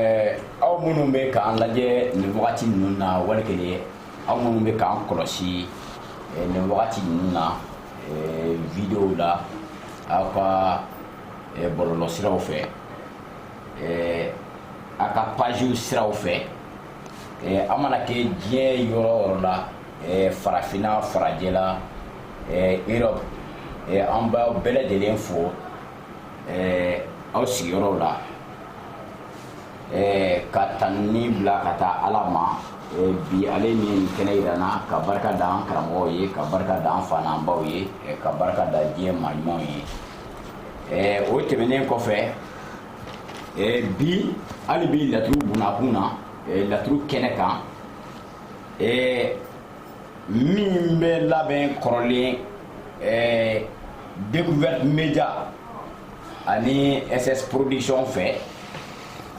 Eh, aw minnu bɛ k'an lajɛ nin wagati ninnu na wali kelen aw minnu bɛ k'an kɔlɔsi eh, nin wagati ninnu na eh, video la aw ka bɔlɔlɔ siraw fɛ a ka page siraw fɛ a mana kɛ diɲɛ yɔrɔ o yɔrɔ la farafinna farajɛla europe an b'aw bɛɛ lajɛlen fo aw sigiyɔrɔw la eh, ka tanni bila ka taa ala ma eh, bi ale min kɛnɛ yira an na ka barika da an karamɔgɔw ye ka barika da an fa n'an baw ye eh, ka barika da diɲɛ maa ɲumanw ye eh, o tɛmɛnen kɔfɛ eh, bi hali bi laturu bunakun na eh, laturu kɛnɛ kan eh, min bɛ labɛn kɔrɔlen eh, découverte média ani ss production fɛ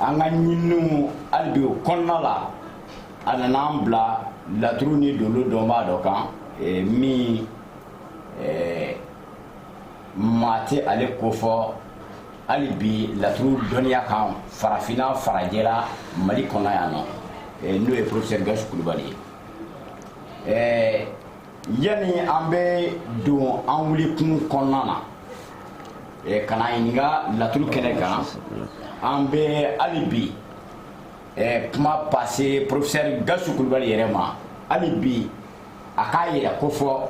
an ka ɲininiw hali bi o kɔnɔna la a nana an bila laturu ni dolo dɔnbaa dɔ kan eh, min eh, maa tɛ ale kofɔ hali bi laturu dɔnniya kan farafinna farajɛla mali kɔnɔ yan nɔ eh, n'o ye professeur gawusu kulubali ye yanni an bɛ don an wulikun kɔnɔna na eh, ka na ɲininka laturu kɛnɛ kan an bɛ hali bi eh, kuma pase professeur gawusu kulubali yɛrɛ ma hali bi a k'a yɛrɛ kofɔ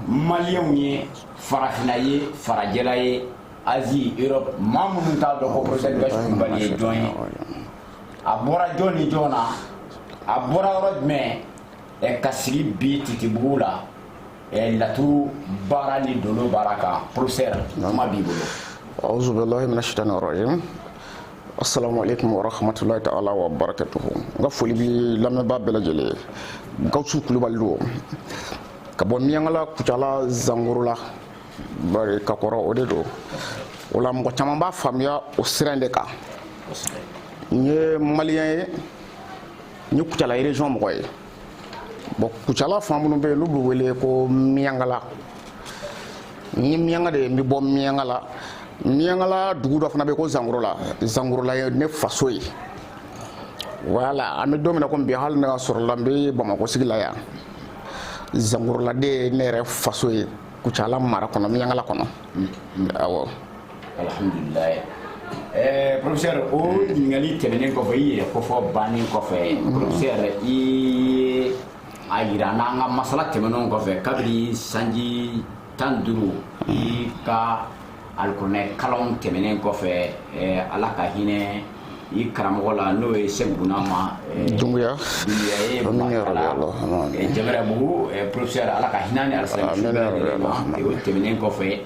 maliyɛnw ye farafinna ye farajɛla ye asie europe maa minnu t'a dɔn ko professeur gawusu kulubali ye jɔn ye a bɔra jɔn ni jɔn na a bɔra yɔrɔ jumɛn ɛ ka sigi bi titibugu la ɛ laturu baara ni dolo baara kan professeur kuma b'i bolo auzubillahi mina shaitani rajim assalamu alaikum warahmatullahi taala wa barakatuhu n ka foli bi lamɛnbaa bɛɛ lajɛlen ye gawusu kulubali don ka bɔ miyankala kucala zangorola bari ka kɔrɔ o de don o la mɔgɔ caman b'a faamuya o sira in de kan n ye maliyɛn ye n ye kucala région mɔgɔ ye bon kucala fan minnu bɛ yen n'u bɛ wele ko miyankala n ye miyanka de ye n bɛ bɔ miyankala miyankala dugu dɔ fana bɛ yen ko zangorola zangorola ye ne faso ye voilà an bɛ don min na komi bi hali ne ka sɔrɔla n bɛ bamakɔ sigi la yan zangorola de ye ne yɛrɛ faso ye kucala mara kɔnɔ miyankala kɔnɔ awɔ alihamdulilayi ɛɛ professeur o ɲininkali tɛmɛnen kɔfɛ i yɛrɛ kofɔ bannen kɔfɛ professeur i ye a yira an n'an ka masala tɛmɛnenw kɔfɛ kabini sanji tan duuru i ka alikuranɛ kalanw tɛmɛnen kɔfɛ eh, ala ka hinɛ i karamɔgɔ la n'o ye sɛki bunama eh, dunbuya dunbuya ye makala eh, jamarabugu professeur ala ka hinɛ ni alisilamɛ o tɛmɛnen kɔfɛ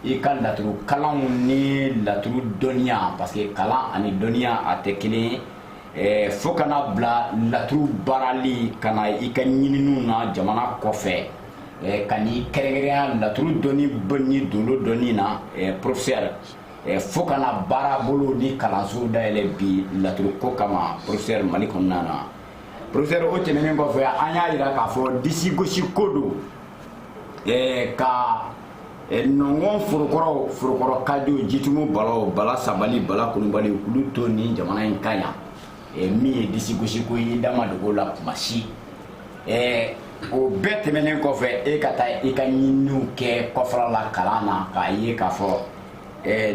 i ka laturu kalanw ni laturu dɔnniya parce que kalan ani dɔnniya a tɛ kelen ye eh, fo ka na bila laturu baarali ka na i ka ɲininiw na jamana kɔfɛ eh, ka n'i kɛrɛnkɛrɛnya laturu dɔnni ni dolo dɔnni na eh, professeur fo ka na baarabolo ni kalanso dayɛlɛ bi laturu ko kama professeur mali kɔnɔna na professeur o tɛmɛnen kɔfɛ an y'a yira k'a fɔ disi gosi ko don ɛɛ ka nɔngɔn forokɔrɔ forokɔrɔ kajo jitumu balaw bala sabali bala kulubali olu to nin jamana in kan yan min ye disigosiko ye da ma dogo a la kuma si ɛɛ o bɛɛ tɛmɛnen kɔfɛ e ka taa i ka ɲininiw kɛ kɔfɛla la kalan na k'a ye k'a fɔ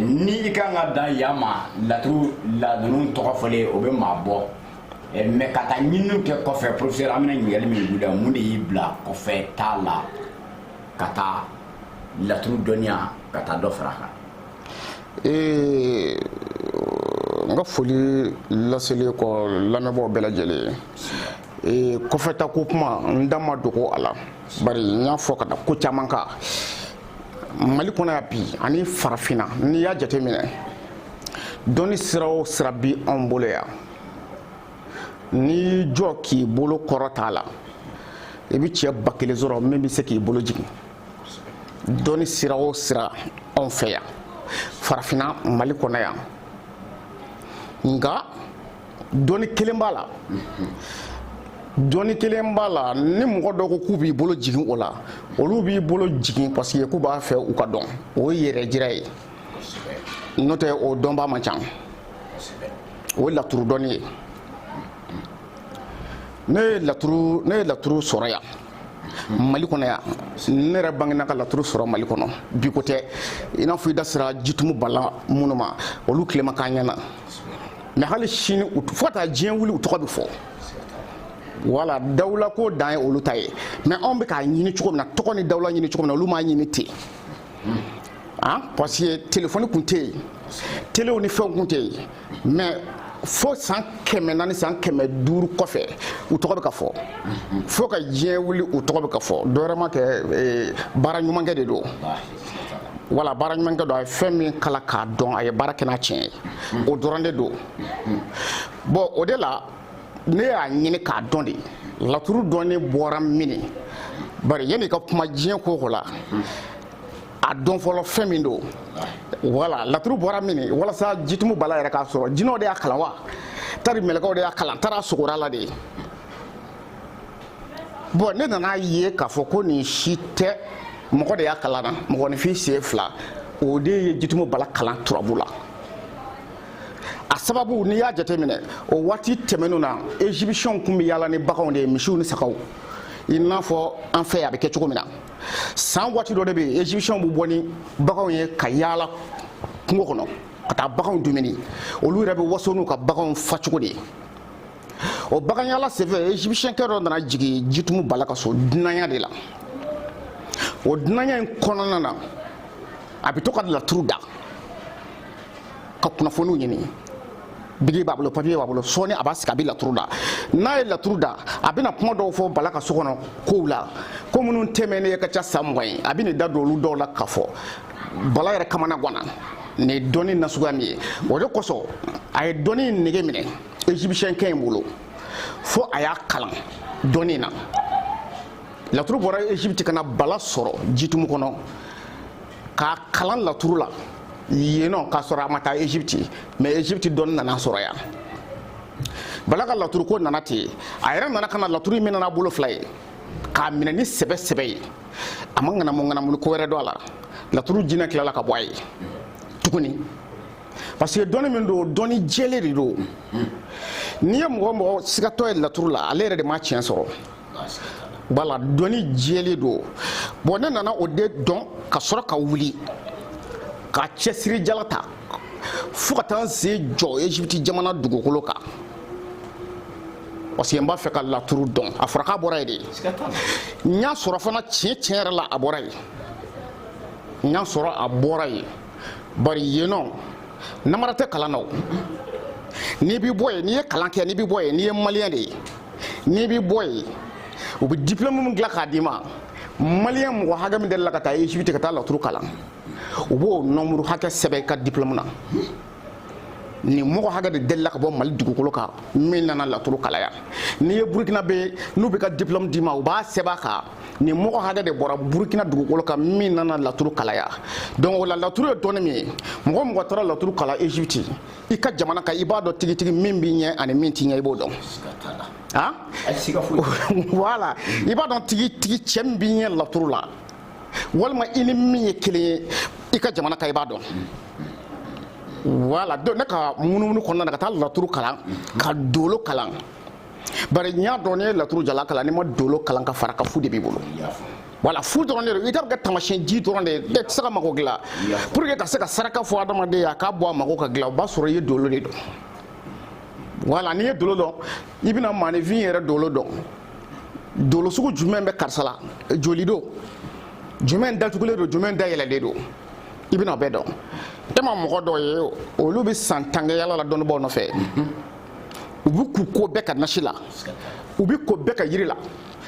ni i kan ka dan yan ma laturula ninnu tɔgɔ fɔlen o bɛ maa bɔ eh, mais ka taa ɲininiw kɛ kɔfɛ professeur an bɛna ɲininkali min k'i la mun de y'i bila kɔfɛ taa la ka taa laturu dɔnniya ka taa dɔ fara kan eh, n ka foli laselen kɔ lamɛnbaaw bɛɛ lajɛlen eh, kɔfɛ taa ko kuma n da ma dogo a la bari n y'a fɔ ka da ko caman kan mali kɔnɔ yan bi ani farafinna n'i y'a jateminɛ dɔnni sira o sira bi anw bolo yan n'i jɔ k'i bolo kɔrɔta a la i bɛ cɛ ba kelen sɔrɔ min bɛ se k'i bolo jigin dɔnni sira o sira anw fɛ yan farafinna mali kɔnɔ yan nka dɔnni kelen b'a la dɔnni kelen b'a la ni mɔgɔ dɔw ko k'u b'i bolo jigin o la olu b'i bolo jigin parce que k'u b'a fɛ u ka dɔn o ye yɛrɛ jira ye n'o tɛ o dɔnbaa man ca o ye laturu dɔnni ye ne ye laturu ne ye laturu sɔrɔ yan mali kɔnɔ yan ne yɛrɛ bangena ka laturu sɔrɔ mali kɔnɔ bi ko tɛ i n'a fɔ i da sera jitumu bala minnu ma olu tile ma k'an ɲɛ na mais hali sini fo ka taa diɲɛ wuli u tɔgɔ bɛ fɔ voilà dawula ko dan ye olu ta ye mais anw bɛ k'a ɲini cogo min na tɔgɔ ni dawula ɲini cogo min na olu m'a ɲini ten an parce que telefɔni kun tɛ yen telew ni fɛnw kun tɛ yen mais fo san kɛmɛ naani san kɛmɛ duuru kɔfɛ u tɔgɔ bɛ ka fɔ fo ka diɲɛ wuli u tɔgɔ bɛ ka fɔ dɔwɛrɛ m'a kɛ eh, baara ɲumankɛ de don wala baara ɲumankɛ don a ye fɛn min kalan k'a dɔn a ye baara kɛ n'a tiɲɛ ye o dɔrɔn de don bɔn o de la ne y'a ɲini k'a dɔn de laturu dɔnni bɔra mini bari yanni ka kuma diɲɛ ko ko la a dɔn fɔlɔ fɛn min don wala laturu bɔra mini walasa jitumu bala yɛrɛ k'a sɔrɔ jinɛw de y'a kalan wa tari mɛlɛkɛw de y'a kalan tari a sugora a la de bɔn ne nana ye k'a fɔ ko nin si tɛ mɔgɔ de y'a kalan na mɔgɔninfin sen fila o de ye jitumu bala kalan turabu la a sababu n'i y'a jateminɛ o waati tɛmɛnenw na ezipisiyɛnw kun bɛ yaala ni baganw de ye misiw ni sagaw i n'a fɔ an fɛ a bɛ kɛ cogo min na san waati dɔ de bɛ yen ezipisiyɛnw bɛ bɔ ni baganw ye ka yaala kungo kɔnɔ ka taa baganw dumuni olu yɛrɛ bɛ waso n'u ka baganw fa cogo de ye o baganyaala senfɛ ezipisiyɛnkɛ dɔ nana jigin jitumu bala ka so dunanya de la o dunanya in kɔnɔna na a bɛ to ka laturu da ka kunnafoniw ɲini biki b'a bolo papiye b'a bolo sɔɔni a b'a sigi a bɛ laturu da n'a ye laturu da a bɛna kuma dɔw fɔ bala ka so kɔnɔ kow la ko minnu tɛmɛnen ka ca san mugan ye a bɛn'i da don olu dɔw la k'a fɔ bala yɛrɛ kamana ganna nin ye dɔnni nasuguya min ye o de kosɔn a ye dɔnni nege minɛ egyptiɛnkɛ in bolo fo a y'a kalan dɔnni na laturu bɔra egypte ka na bala sɔrɔ jitumu kɔnɔ k'a kalan laturu la yennɔ k'a sɔrɔ a ma taa egypte mais egypte dɔnni nan'a sɔrɔ yan bala ka laturu ko nana ten a yɛrɛ nana ka na laturu minɛ n'a bolo fila ye k'a minɛ ni sɛbɛ sɛbɛ ye a ma ŋanamu ŋanamuli ko wɛrɛ don a la laturu jinɛ tilala ka bɔ a ye tuguni parce que dɔnni min don dɔnni jɛlen de don n'i ye mɔgɔ o mɔgɔ sigatɔ ye laturu la ale yɛrɛ de ma tiɲɛ sɔrɔ wala dɔnni jɛlen don bɔn ne nana o de dɔn ka sɔrɔ ka wuli ka cɛsiri jala ta fo ka taa n sen jɔ ezipiti jamana dugukolo kan parce que n b'a fɛ ka laturu dɔn a fɔra k'a bɔra yen de n y'a sɔrɔ fana tiɲɛ tiɲɛ yɛrɛ la a bɔra yen n y'a sɔrɔ a bɔra yen bari yennɔ namara tɛ kalan na o n'i b'i bɔ yen n'i ye kalan kɛ n'i b'i bɔ yen n'i ye maliyɛn de ye n'i bɛ bɔ yen u bɛ diplôme min dilan k'a d'i ma maliyɛn mɔgɔ hakɛ min delila ka taa Egypte ka taa laturu kalan u b'o nombre hakɛ sɛbɛn i ka diplôme na nin mɔgɔ hakɛ de delila ka bɔ mali dugukolo kan min nana laturu kalan yan n'i ye burukinabɛ n'u b'i ka diplôme d'i ma u b'a sɛbɛn a kan nin mɔgɔ hakɛ de bɔra burukina dugukolo kan min nana laturu kalan yan donc o la laturu ye dɔnni min ye mɔgɔ o mɔgɔ taara laturu kalan egypte i ka jamana kan i b'a dɔn tigitigi min b'i ɲɛ ani min t'i ɲɛ i b'o dɔn han voilà i b'a dɔn tigitigi cɛ min b'i ɲɛ laturu la walima i ni min ye kelen ye i ka jamana kan i b'a dɔn voilà donc ne ka munumunu kɔnɔna na ka taa laturu kalan ka dolo kalan bari n y'a dɔn n'i ye laturu jalan kalan n'i ma dolo kalan ka fara a kan fu de b'i bolo voilà fu dɔrɔn de don i t'a kɛ tamasiyɛn ji dɔrɔn de ye mɛ i tɛ se ka mago dilan pour que ka se ka saraka fɔ adamaden ye a k'a bɔ a mago ka dilan o b'a sɔrɔ i ye dolo de dɔn voilà n'i ye dolo dɔn i bɛna maanifin yɛrɛ dolo dɔn dolo sugu jumɛn bɛ karisa la joli don jumɛn datugulen don jumɛn dayɛlɛlen don i bɛna o bɛɛ dɔn e ma mɔgɔ dɔw ye olu bɛ san tan kɛ yala la dɔnnibaaw nɔfɛ. u bɛ k'u ko bɛɛ ka nasi la u bɛ ko bɛɛ ka yiri la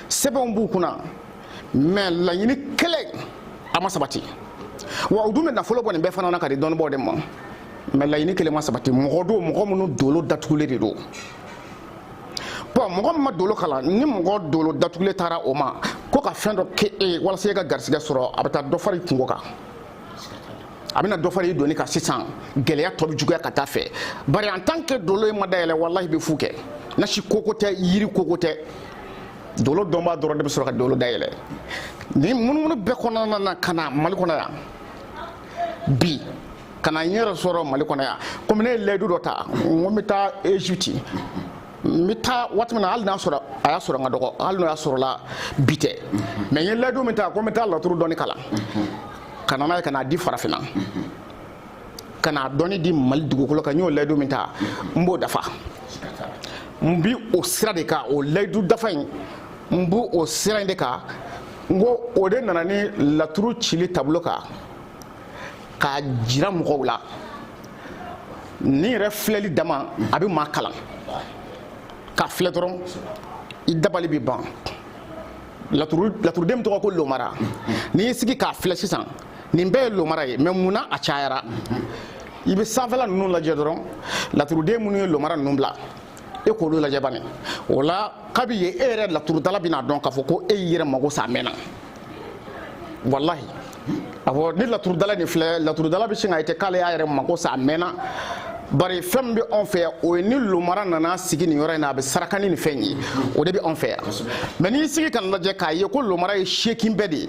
sɛbɛnw b'u kunna mɛ laɲini kelen a ma sabati wa u dun bɛ nafolo bɔ nin bɛɛ fana na ka di dɔnnibaaw de ma mɛ laɲini kelen ma sabati mɔgɔ don mɔgɔ minnu dolo datugulen de don bɔn mɔgɔ min ma dolo kalan ni mɔgɔ dolo datugulen taara o ma ko ka fɛn dɔ kɛ e walasa e ka garisigɛ sɔrɔ a bɛ taa dɔ fara i kunko kan a bɛna dɔ fara i doni kan sisan gɛlɛya tɔ bɛ juguya ka taa a fɛ bari en tant que dolo in ma dayɛlɛ walahi i bɛ fu kɛ nasi koko tɛ yiri koko tɛ dolo dɔnbaa dɔrɔn de bɛ sɔrɔ ka dolo dayɛlɛ nin munumunu bɛɛ kɔnɔna na ka na mali kɔnɔ yan bi ka na n yɛrɛ sɔrɔ mali kɔnɔ yan komi ne ye layidu dɔ ta n ko n bɛ taa egypte n bɛ taa waati min na hali n'a sɔrɔ a y'a sɔrɔ n ka dɔgɔ hali n'o y'a sɔrɔla bi tɛ mɛ n ye layidu min ta ko n bɛ taa laturu dɔnni kalan ka na n'a ye ka n'a di farafinna ka n'a dɔnni di mali dugukolo kan n y'o layidu min ta n b'o dafa n bi o sira de kan o layidu dafa in n b'o o sira in de kan n ko o de nana ni laturu cili tableau kan k'a jira mɔgɔw la nin yɛrɛ filɛli dama a bɛ maa kalan k'a filɛ dɔrɔn i dabali bɛ ban laturuden min tɔgɔ ko lomara n'i y'i sigi k'a filɛ sisan nin bɛɛ ye lomara ye mɛ mun na a cayara i bɛ sanfɛla ninnu lajɛ dɔrɔn laturuden minnu ye lomara ninnu bila e k'olu lajɛ bani o la kabi ye e yɛrɛ laturudala bɛn'a dɔn k'a fɔ ko e y'i yɛrɛ mago sa a mɛnna walahi awɔ ni laturudala nin filɛ laturudala bɛ sin ka ite k'ale y'a yɛrɛ mago sa a mɛnna bari fɛn min bɛ anw fɛ yan o ye ni lomara nana sigi nin yɔrɔ in na a bɛ saraka ni nin fɛn ye o de bɛ anw fɛ yan mais n'i sigi k'a lajɛ k'a ye ko lomara ye seegin bɛɛ de ye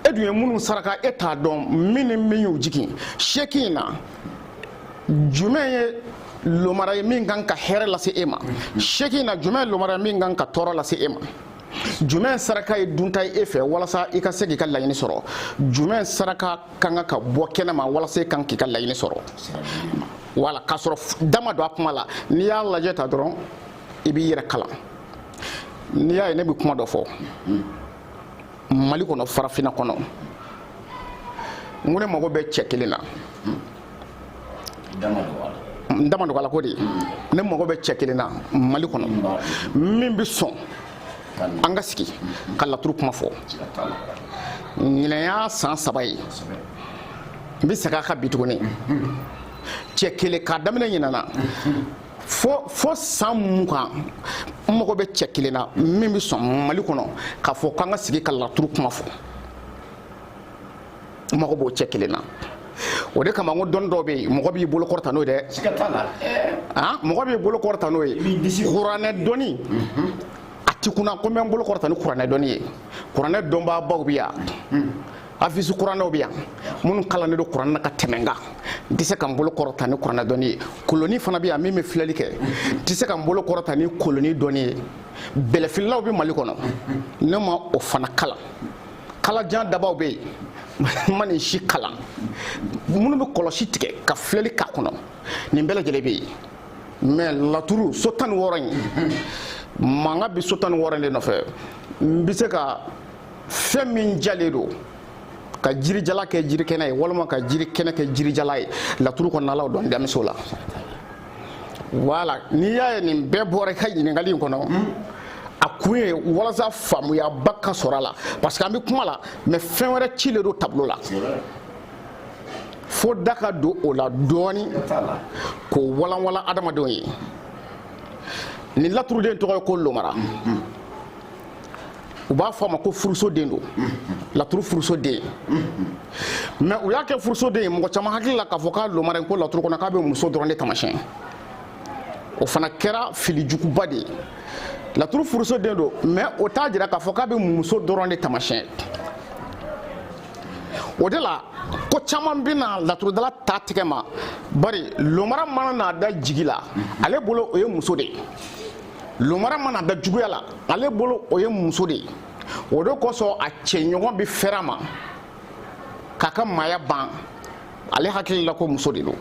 e dun ye minnu saraka e t'a dɔn min ni min y'u jigin seegin in na jumɛn ye lomara ye min kan ka hɛrɛ lase e ma seegin in na jumɛn ye lomara ye min kan ka tɔɔrɔ lase e ma jumɛn saraka ye dunta ye e fɛ walasa i ka se k'i ka laɲini sɔrɔ jumɛn saraka ka kan ka bɔ kɛnɛma walasa i k'i ka laɲini sɔrɔ wala k'a sɔrɔ da ma don a kuma la n'i y'a lajɛ tan dɔrɔn i b'i yɛrɛ kalan n'i y'a ye ne bɛ kuma dɔ fɔ mali kɔnɔ farafina kɔnɔ n ko ne mago bɛ cɛ kelen na n da ma dogo a la ko de ne mago bɛ cɛ kelen na mali kɔnɔ min bɛ sɔn an ka sigi ka laturu kuma fɔ ɲinan y'a san saba ye n bɛ segin a kan bi tuguni cɛ kelen k'a daminɛ ɲinan na fo fo san mugan n mago bɛ cɛ kelen na min bɛ sɔn mali kɔnɔ k'a fɔ k'an ka sigi ka laturu kuma fɔ n mago b'o cɛ kelen na o de kama n ko dɔnni dɔw bɛ yen mɔgɔ b'i bolo kɔrɔta n'o ye dɛ mɔgɔ b'i bolo kɔrɔta n'o ye kuranɛ dɔnni mhm. a ti kunna ko n bɛ n bolo kɔrɔta ni kuranɛ dɔnni ye kuranɛ dɔnbaabaw bɛ yan. hafizi kuranɛw bɛ yan minnu kalannen don kuranɛ la ka tɛmɛ n kan n tɛ se ka n bolo kɔrɔta ni kuranɛ dɔnni ye koloni fana bɛ yan min bɛ filɛli kɛ n tɛ se ka n bolo kɔrɔta ni koloni dɔnni ye bɛlɛfililaw bɛ mali kɔnɔ ne ma o fana kalan kalajan dabaw bɛ yen n ma nin si kalan minnu bɛ kɔlɔsi tigɛ ka filɛli k'a kɔnɔ nin bɛɛ lajɛlen bɛ yen mais laturu so tan ni wɔɔrɔ in mankan bɛ so tan ni wɔɔrɔ in de nɔfɛ n bɛ se ka fɛn min jalen don ka jirijalan kɛ jirikɛnɛ ye walima ka jirikɛnɛ kɛ jirijalan ye laturu kɔnɔnalaw dɔn damiso la wala n'i y'a ye nin bɛɛ bɔra i ka ɲininkali in kɔnɔ a kun ye walasa faamuyaba ka sɔrɔ a la parce que an bɛ kuma la mais fɛn wɛrɛ cilen don tablo la fo da ka don o la dɔɔni k'o walanwalan adamadenw ye ni laturuden tɔgɔ ye ko lomara u b'a fɔ a ma ko furusoden don laturu furusoden mais u y'a kɛ furusoden ye mɔgɔ caman hakili la k'a fɔ k'a lomara ko laturu kɔnɔ k'a bɛ muso dɔrɔn de tamasiyɛn o fana kɛra fili juguba de ye laturu furusoden don mais o t'a jira k'a fɔ k'a bɛ muso dɔrɔn de tamasiyɛn o de la ko caman bɛna laturudala ta tigɛ ma bari lomara mana n'a da jigi la ale bolo o ye muso de ye lomara mana da juguya la ale bolo o ye muso de ye o de kosɔn a cɛɲɔgɔn bɛ fɛrɛ a ma k'a ka maaya ban ale hakili la ko muso de don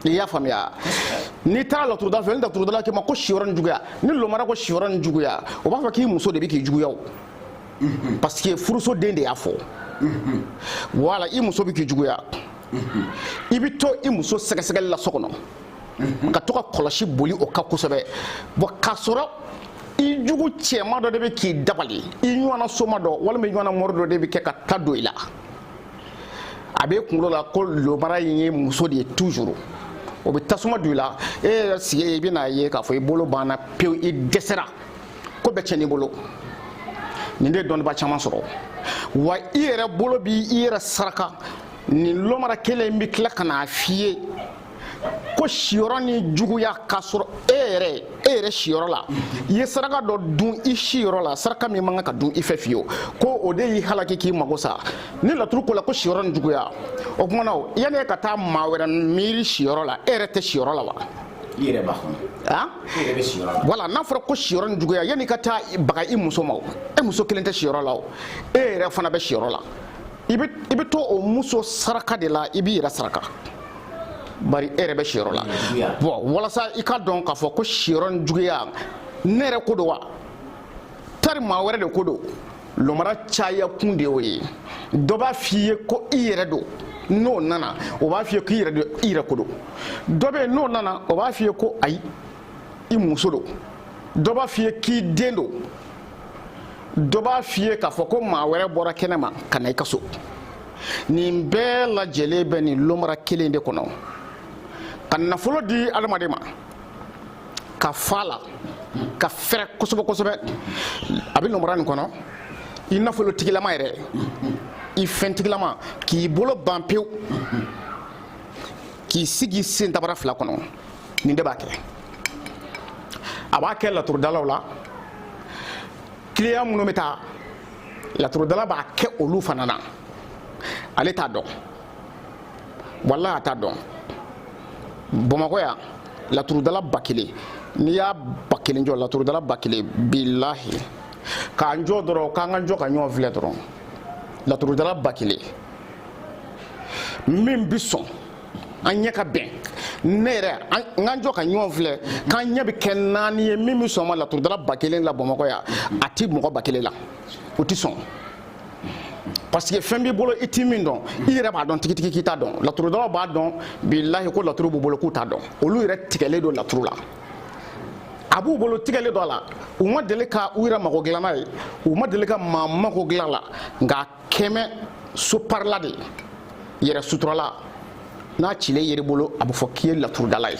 i y'a faamuya n'i taara laturudala fɛ ni laturudala k'i ma ko siyɔrɔ ni juguya ni lomara ko siyɔrɔ ni juguya o b'a fɔ k'i muso de bɛ k'i juguya o parce que furusoden de y'a fɔ wala i muso bɛ k'i juguya i bɛ to i muso sɛgɛsɛgɛli la so kɔnɔ mhm. ka to ka kɔlɔsi boli o kan kosɛbɛ bon k'a sɔrɔ i jugu cɛma dɔ de bɛ k'i dabali i ɲɔgɔnna soma dɔ walima i ɲɔgɔnna mɔri dɔ de bɛ kɛ ka ta don i la a b'e kunkolo la ko lomara in ye muso de ye toujours o bɛ tasuma don i la e yɛrɛ sigi i bɛna ye k'a fɔ i bolo banna pewu i dɛsɛra ko bɛɛ cɛn'i bolo nin de ye dɔnnibaa caman sɔrɔ wa i yɛrɛ bolo b'i yɛrɛ saraka nin lomara kelen in bɛ tila ka n'a f'i ye ko siyɔrɔ ni juguya k'a sɔrɔ e yɛrɛ e yɛrɛ siyɔrɔ la i ye saraka dɔ dun i siyɔrɔ la saraka min man kan ka dun i fɛ fiyewu ko o de y'i halaki k'i mago sa ni laturu ko la ko siyɔrɔ ni juguya o kuma na o yanni e ka taa maa wɛrɛ miiri siyɔrɔ la e yɛrɛ tɛ siyɔrɔ la wa i yɛrɛ b'a kɔnɔ han i yɛrɛ bɛ siyɔrɔ la wala n'a fɔra ko siyɔrɔ ni juguya yanni i ka taa baga i muso ma o e muso kelen tɛ siyɔrɔ la o e yɛrɛ fana bɛ siyɔrɔ la i bɛ to o muso saraka de la i b'i yɛrɛ saraka bari e yɛrɛ bɛ siyɔrɔ la bon walasa i ka dɔn k'a fɔ ko siyɔrɔ ni juguya ne yɛrɛ ko don wa tari maa wɛrɛ de ko don lomara caya kun de y'o ye dɔ b'a f'i ye ko i yɛrɛ don n'o nana o b'a f'i ye k'i yɛrɛ don i yɛrɛ ko don dɔ bɛ yen n'o nana o b'a f'i ye ko ayi i muso don dɔ b'a f'i ye k'i den don dɔ b'a f'i ye k'a fɔ ko maa wɛrɛ bɔra kɛnɛ ma ka na i ka so nin bɛɛ lajɛlen bɛ nin lomara kelen de kɔnɔ ka nafolo di adamaden ma ka fa la ka fɛrɛ kosɛbɛ kosɛbɛ a bɛ lomara nin kɔnɔ i nafolotigilama yɛrɛ i fɛntigilama k'i bolo ban pewu k'i sigi sen sabara fila kɔnɔ nin de b'a kɛ a b'a kɛ laturudalaw la kiliyan minnu bɛ taa laturudala b'a kɛ olu fana na ale t'a dɔn walahi a t'a dɔn bamakɔ yan laturudala ba kelen n'i y'a ba kelen jɔ laturudala ba kelen bilahi k'an jɔ dɔrɔn k'an ka jɔ ka ɲɔgɔn filɛ dɔrɔn laturudala ba kelen min bɛ sɔn an ɲɛ ka bɛn ne yɛrɛ n ka jɔ ka ɲɔgɔn filɛ k'an ɲɛ bɛ kɛ naani ye min bɛ sɔn ma laturudala ba kelen la bamakɔ yan a ti mɔgɔ ba kelen la o tɛ sɔn parce que fɛn b'i bolo i ti min dɔn i yɛrɛ b'a dɔn tigitigi k'i t'a dɔn laturudalaw b'a dɔn bilahi ko laturu b'u bolo k'u t'a dɔn olu yɛrɛ tigɛlen don laturu la a b'u bolo tigɛlen don a la u ma deli ka u yɛrɛ mago dilan n'a ye u ma deli ka maa mago dilan a la nka kɛmɛ soparila de yɛrɛ suturala n'a cilen yer'i bolo a bɛ fɔ k'i ye laturudala ye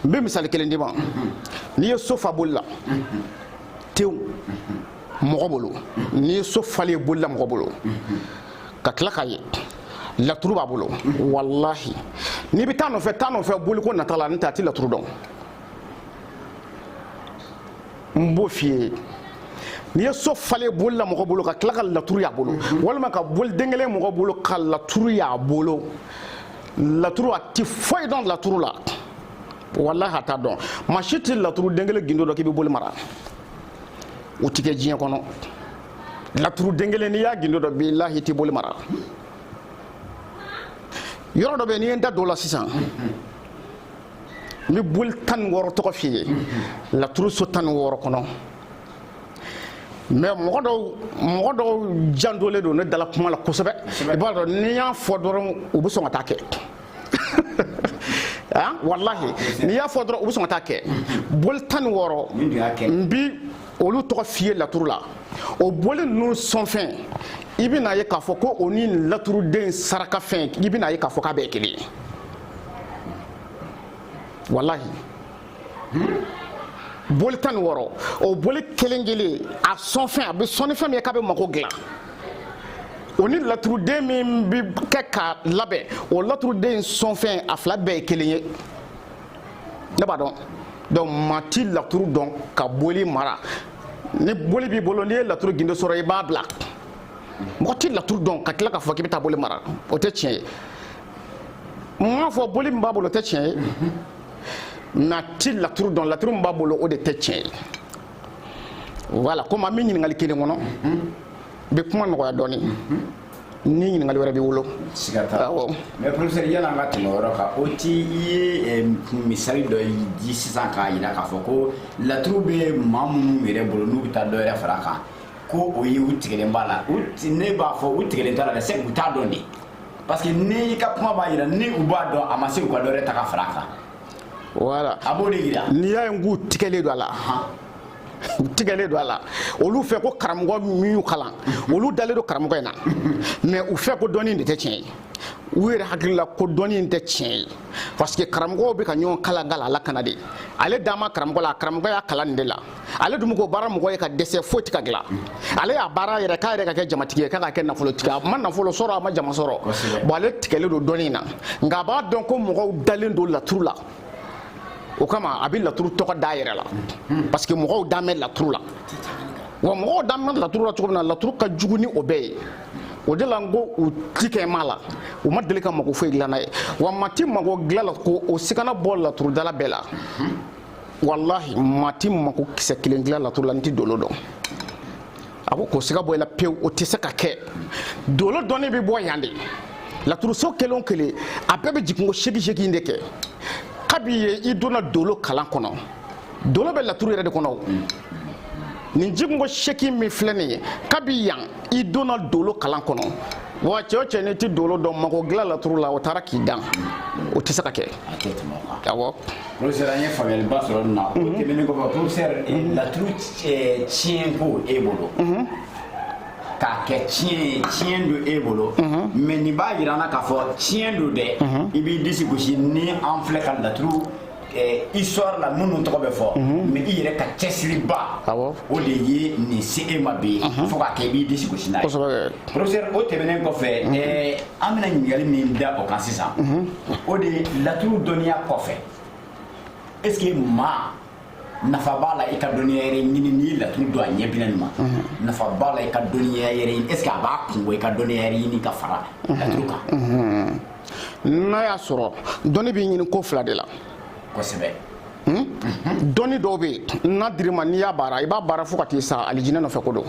n bɛ misali kelen d'i ma n'i ye so fa boli la tew mɔgɔ bolo n'i ye so falen boli la mɔgɔ bolo ka tila k'a ye laturu b'a bolo walahi n'i bɛ taa nɔfɛ taa nɔfɛ boliko nata la n'o tɛ a ti laturu dɔn n b'o f'i ye n'i ye so falen boli la mɔgɔ bolo ka tila ka laturu y'a bolo mhm. walima ka boli den kelen mɔgɔ bolo ka laturu y'a bolo laturu a ti foyi dɔn laturu la walahi a t'a dɔn maa si ti laturu den kelen gindo dɔn k'i bɛ boli mara o ti kɛ diɲɛ kɔnɔ laturu den kelen n'i y'a gindo dɔn bilahi i ti boli mara yɔrɔ dɔ bɛ yen n'i ye n da don o la sisan. Mhm. n bɛ boli tan ni wɔɔrɔ tɔgɔ f'i ye laturu so tan ni wɔɔrɔ kɔnɔ mais mɔgɔ dɔw jandolen don ne dala kuma la kosɛbɛ i b'a dɔn n'i y'a fɔ dɔrɔn u bɛ sɔn ka taa kɛ ah, walahi n'i y'a fɔ dɔrɔn u bɛ sɔn ka taa kɛ boli tan ni wɔɔrɔ n bi olu tɔgɔ f'i ye laturu la o boli ninnu sɔnfɛn i bɛna ye k'a fɔ ko o ni laturuden sarakafɛn i bɛna ye k'a fɔ k'a bɛɛ kelen ye walahi boli tan ni wɔɔrɔ o boli kelen kelen a sɔnfɛn a bɛ sɔn ni fɛn min ye k'a bɛ mago dilan o ni laturuden min bɛ kɛ k'a labɛn o laturuden sɔnfɛn a fila bɛɛ ye kelen ye ne b'a dɔn donc maa ti laturu dɔn ka boli mara ni boli b'i bolo n'i ye laturu gindo sɔrɔ i b'a bila mɔgɔ ti laturu dɔn ka tila k'a fɔ k'i bɛ taa boli mara o tɛ tiɲɛ ye n m'a fɔ boli min b'a bolo o tɛ tiɲɛ ye mais a ti laturu dɔn laturu min b'a bolo o de tɛ tiɲɛ ye voilà komi an bɛ ɲininkali kelen kɔnɔ n bɛ kuma nɔgɔya dɔɔnin ni ɲininkali wɛrɛ b'i bolo siga t'a la awɔ mais professeur yanni an ka tɛmɛ o yɔrɔ kan o ti i ye eh, misali dɔ yi- di sisan k'a jira k'a fɔ ko laturu bɛ maa minnu yɛrɛ bolo n'u bɛ taa dɔ yɛrɛ fara a kan ko o ye u tigɛlen b'a la u ti- ne b'a fɔ u tigɛlen t'a la dɛ c'est u t'a dɔn de parce que n'i ka kuma b'a jira ni u b'a dɔn a ma se u ka dɔ wɛrɛ ta ka fara a kan voilà a b'o de jira n'i y'a ye k'u tigɛlen don a la u tigɛlen don a la olu fɛ ko karamɔgɔ min y'u kalan olu dalen don karamɔgɔ in na mais u fɛ ko dɔnni de tɛ tiɲɛ ye u yɛrɛ hakili la ko dɔnni in tɛ tiɲɛ ye parce que karamɔgɔw bɛ ka ɲɔgɔn kalan kalan a la kana de ale dan b'a karamɔgɔ la a karamɔgɔ y'a kalan nin de la ale dun ko baara mɔgɔ ye ka dɛsɛ foyi tɛ ka dilan ale y'a baara yɛrɛ k'a yɛrɛ ka kɛ jamatigi ye k'a ka kɛ nafolotigi a ma nafolo sɔrɔ a ma jama sɔrɔ bon ale tigɛlen don dɔnni in na nka a b'a dɔn ko mɔgɔw dalen don laturu la o kama a bɛ laturu tɔgɔ d'a yɛrɛ la parce que mɔgɔw dan bɛ laturu la wa mɔgɔw dan bɛ laturu la cogo min na laturu ka jugu ni o bɛɛ ye o de la n ko u ti kɛ ma la u ma deli ka mago foyi dilan n'a ye wa maa ti mago dilan a la ko o sikana bɔ laturudala bɛɛ la walahi maa ti mako kisɛ kelen dilan laturu la n'i ti dolo dɔn a ko k'o siga bɔ i la pewu o tɛ se ka kɛ dolo dɔnni bɛ bɔ yan de laturuso kelen o kelen a bɛɛ bɛ jiginko seegin seegin de kɛ kabi yen i donna dolo kalan kɔnɔ dolo bɛ laturu yɛrɛ de kɔnɔ o nin jiginko seegin min filɛ nin ye kabi yan i donna dolo kalan kɔnɔ wa cɛ o cɛ n'i ti dolo dɔn mako dilan laturu la o taara k'i dan o tɛ se ka kɛ awɔ. Professeur an ye faamuyaliba sɔrɔ nin na o mhm. tɛmɛnen kɔfɛ professeur eh, mhm. laturu eh, tiɲɛ ko e bolo mhm. k'a kɛ tiɲɛ don e bolo mais nin b'a jira an na k'a fɔ tiɲɛ don dɛ i b'i disi gosi ni an filɛ ka laturu eh, histoire la minnu tɔgɔ bɛ fɔ mais i yɛrɛ ka cɛsiriba o de ye nin se e ma bi fo k'a kɛ i b'i disi gosi n'a ye professeur o tɛmɛnen kɔfɛ an bɛna ɲininkali min da o kan sisan o de ye laturu dɔnniya kɔfɛ est ce que maa nafa b'a la i ka dɔnniya yɛrɛ ɲini n'i ye laturu dɔn a ɲɛ bina nin maa nafa b'a la i ka dɔnniya yɛrɛ ɲini est ce que a b'a kun bɔ i ka dɔnniya yɛrɛ ɲini ka fara laturu kan n'a y'a sɔrɔ dɔnni bɛ ɲini ko fila de la kosɛbɛ Hmm? dɔnni dɔw bɛ yen n'a dir'i ma n'i y'a baara i b'a baara fo ka t'i sa alijinɛ nɔfɛ ko don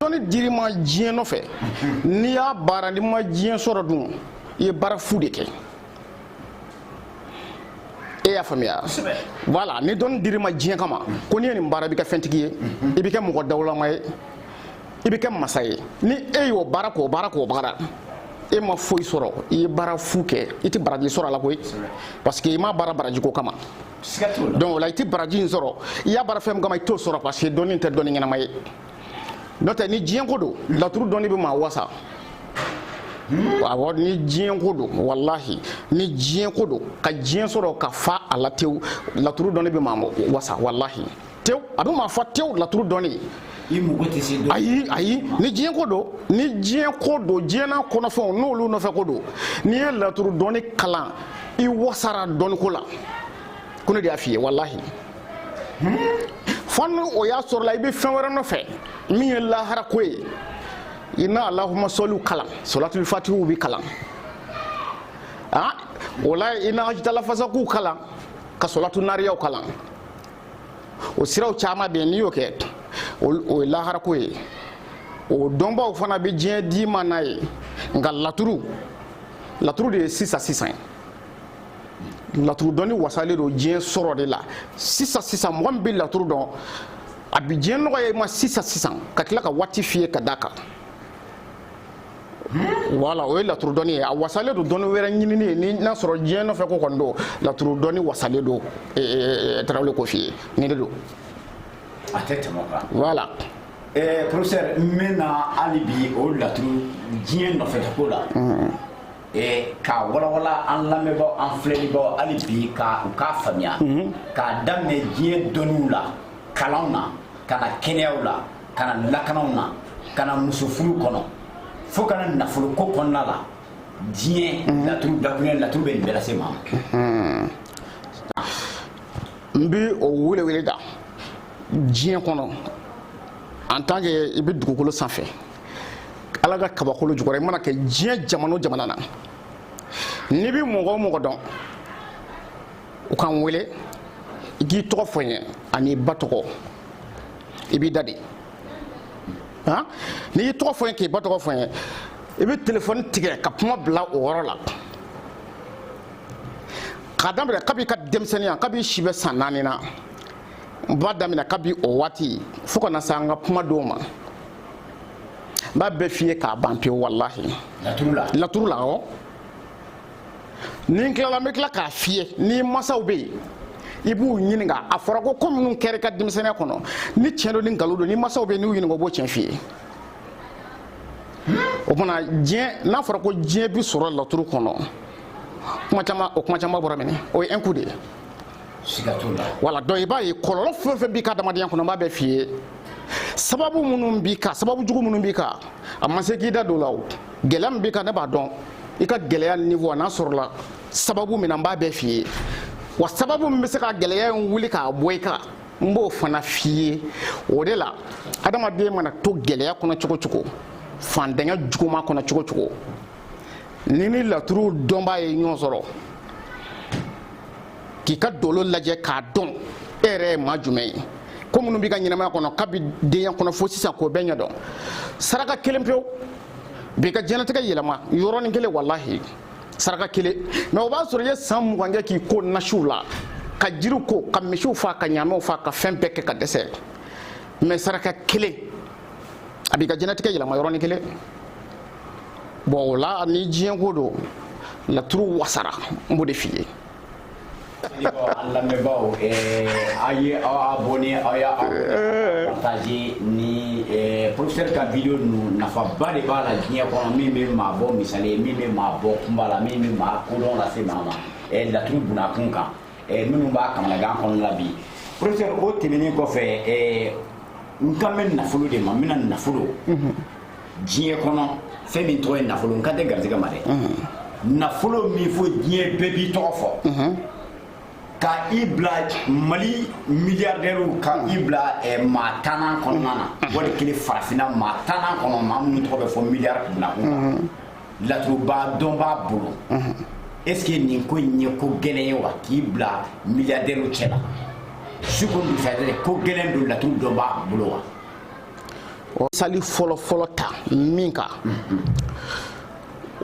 dɔnni dir'i ma diɲɛ nɔfɛ n'i y'a baara n'i ma diɲɛ sɔrɔ dun i ye baara fu de kɛ e y'a faamuya voilà ni dɔnni dir'i ma diɲɛ kama ko n'i ye nin baara i bɛ kɛ fɛntigi ye i bɛ kɛ mɔgɔ dawulama ye i bɛ kɛ masa ye ni e y'o baara k'o baara k'o baara e ma foyi sɔrɔ i ye baara fu kɛ i tɛ baraji sɔrɔ a la koyi parce que i m'a baara baraji ko kama donc o la i tɛ baraji in sɔrɔ i y'a baara fɛn min kama i t'o sɔrɔ parce que dɔnni tɛ dɔnni ɲɛnama ye n'o tɛ ni diɲɛ ko don laturu dɔnni bɛ maa wasa hmm? awɔ ni diɲɛ ko don walahi ni diɲɛ ko don ka diɲɛ sɔrɔ ka fa a la tewu laturu dɔnni bɛ maa wasa walahi tew a bɛ maa fa tew laturu dɔnni ye ayi ayi ni diɲɛ ko don ni diɲɛ ko don diɲɛna kɔnɔfɛnw n'olu nɔfɛ ko don n'i ye laturu dɔnni kalan i wasara dɔnni ko la ko ne de y'a f'i ye walahi fo ni o y'a sɔrɔla i bɛ fɛn wɛrɛ nɔfɛ min ye lahara ko ye i na alahuma sɔliw kalan sɔlatuli fatihiw bɛ kalan ah o la i na hajitalafasakow kalan ka sɔlatu nariyaw kalan o siraw caman bɛ yen n'i y'o kɛ o ye laharako ye o dɔnbaaw fana bɛ diɲɛ d'i ma n'a ye nka laturu laturu de ye sisan sisan ye laturu dɔnni wasalen don diɲɛ sɔrɔ de la sisan sisan mɔgɔ min bɛ laturu dɔn a bi diɲɛ nɔgɔya i ma sisan sisan ka tila ka waati f'i ye ka d'a kan voilà o ye laturu dɔnni ye a wasalen don dɔnni wɛrɛ ɲinini ye ni n'a sɔrɔ diɲɛ nɔfɛ ko kɔni don laturu dɔnni wasalen don eh, eh, eh, tarawele k'o f'i ye nin de don a tɛ tɛmɛ o kan voilà Eh, professeur n bɛna hali bi o laturu diɲɛ nɔfɛtako la Eh, k'a walawala an lamɛnbaaw an filɛlibaaw hali bi ka u k'a faamuya k'a daminɛ diɲɛ dɔnniw la kalanw na ka na kɛnɛyaw la ka na lakanaw na ka na musofuru kɔnɔ fo ka na nafoloko kɔnɔna la diɲɛ mhm. laturu dakunya laturu bɛ nin bɛɛ lase maa ma mhm. n bi o welewele da diɲɛ kɔnɔ en tant que i bɛ dugukolo sanfɛ ala ka kabakolo jukɔrɔ i mana kɛ diɲɛ jamana o jamana na n'i bɛ mɔgɔ o mɔgɔ dɔn u k'an wele i k'i tɔgɔ fɔ n ye ani i ba tɔgɔ i b'i da de n'i y'i tɔgɔ fɔ n ye k'i ba tɔgɔ fɔ n ye i bɛ telefɔni tigɛ ka kuma bila o yɔrɔ la k'a daminɛ kabi i ka denmisɛnninya kabi i si bɛ san naani na n b'a daminɛ kabi o waati fo ka na se an ka kuma don ma n b'a bɛɛ f'i ye k'a ban pewu walahi laturu la awɔ ni n tilala n bɛ tila k'a f'i ye ni masaw bɛ yen i b'u ɲininka a fɔra ko ko minnu kɛra i ka denmisɛnninya kɔnɔ ni tiɲɛ don ni nkalon don ni masaw bɛ yen n'u ɲininka o b'o tiɲɛ f'i ye o tuma diɲɛ n'a fɔra ko diɲɛ bi sɔrɔ laturu kɔnɔ kuma caman o kuma caman bɔra minɛ o ye un coup de ye wala donc i b'a ye kɔlɔlɔ fɛn o fɛn b'i ka adamadenya kɔnɔ n b'a bɛɛ f'i ye sababu minnu b'i kan sababu jugu minnu b'i kan a ma se k'i da don o la o gɛlɛya min b'i kan ne b'a dɔn i ka gɛlɛya niveau a n'a sɔrɔla sababu min na n b'a bɛɛ f'i ye wa sababu min bɛ se ka gɛlɛya in wuli k'a bɔ i kan n b'o fana f'i ye o de la adamaden mana to gɛlɛya kɔnɔ cogo cogo faantanya juguma kɔnɔ cogo cogo n'i ni laturu dɔnbaa ye ɲɔgɔn sɔrɔ k'i ka dolo lajɛ k'a dɔn e yɛrɛ ye maa jumɛn ye ko minnu b'i ka ɲɛnamaya kɔnɔ kabi denya kɔnɔ fo sisan k'o bɛɛ ɲɛdɔn saraka kelen pewu b'i ka diɲɛnatigɛ yɛlɛma yɔrɔnin kelen walahi saraka kelen mais o b'a sɔrɔ i ye san mugan kɛ k'i ko nasiw la ka jiriw ko ka misiw faa ka ɲaamɛw faa ka fɛn bɛɛ kɛ ka dɛsɛ mais saraka kelen a b'i ka diɲɛnatigɛ yɛlɛma yɔrɔnin kelen bon o la ni diɲɛ ko don laturu wasara n b'o de f'i ye An lamɛnbaaw aw ye aw abonné aw y'a partagé ni professeur ka vidéo ninnu nafaba de b'a la diɲɛ kɔnɔ min bɛ maa bɔ misali ye min bɛ maa bɔ kunpa la min bɛ maa kodɔn lase maa ma laturu bunakun kan minnu b'a kamanagan kɔnɔ la bi professeur o tɛmɛnen kɔfɛ n kan bɛ nafolo de ma n bɛna nafolo diɲɛ kɔnɔ fɛn min tɔgɔ ye nafolo n kan tɛ garijɛgɛ ma dɛ nafolo min fo diɲɛ bɛɛ b'i tɔgɔ fɔ ka i bila mali miliyardɛriw ka i bila eh, maa tannan kɔnɔna na wali kelen farafinna maa tannan kɔnɔ maa minnu tɔgɔ bɛ fɔ miliyari kunna kun na laturuba dɔnbaa bolo est ce que nin ko in ye ko gɛlɛn ye wa k'i bila miliyardɛriw cɛ la su ko dugusajɛ ko gɛlɛn don laturu dɔnbaa bolo wa sali fɔlɔ fɔlɔ ta min kan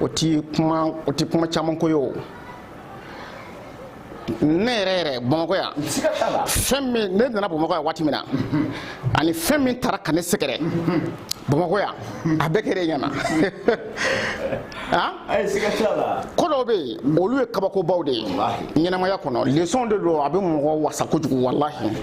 o ti kuma o ti kuma caman ko ye o ne yɛrɛ yɛrɛ bamakɔ yan fɛn min ne nana bamakɔ yan waati min na ani fɛn min taara ka ne sɛgɛrɛ bamakɔ yan a bɛɛ kɛra e ɲɛna ko dɔw bɛ yen olu ye kabakobaw de ye ɲɛnamaya kɔnɔ lesɔn de don a bɛ mɔgɔ wasa kojugu walahi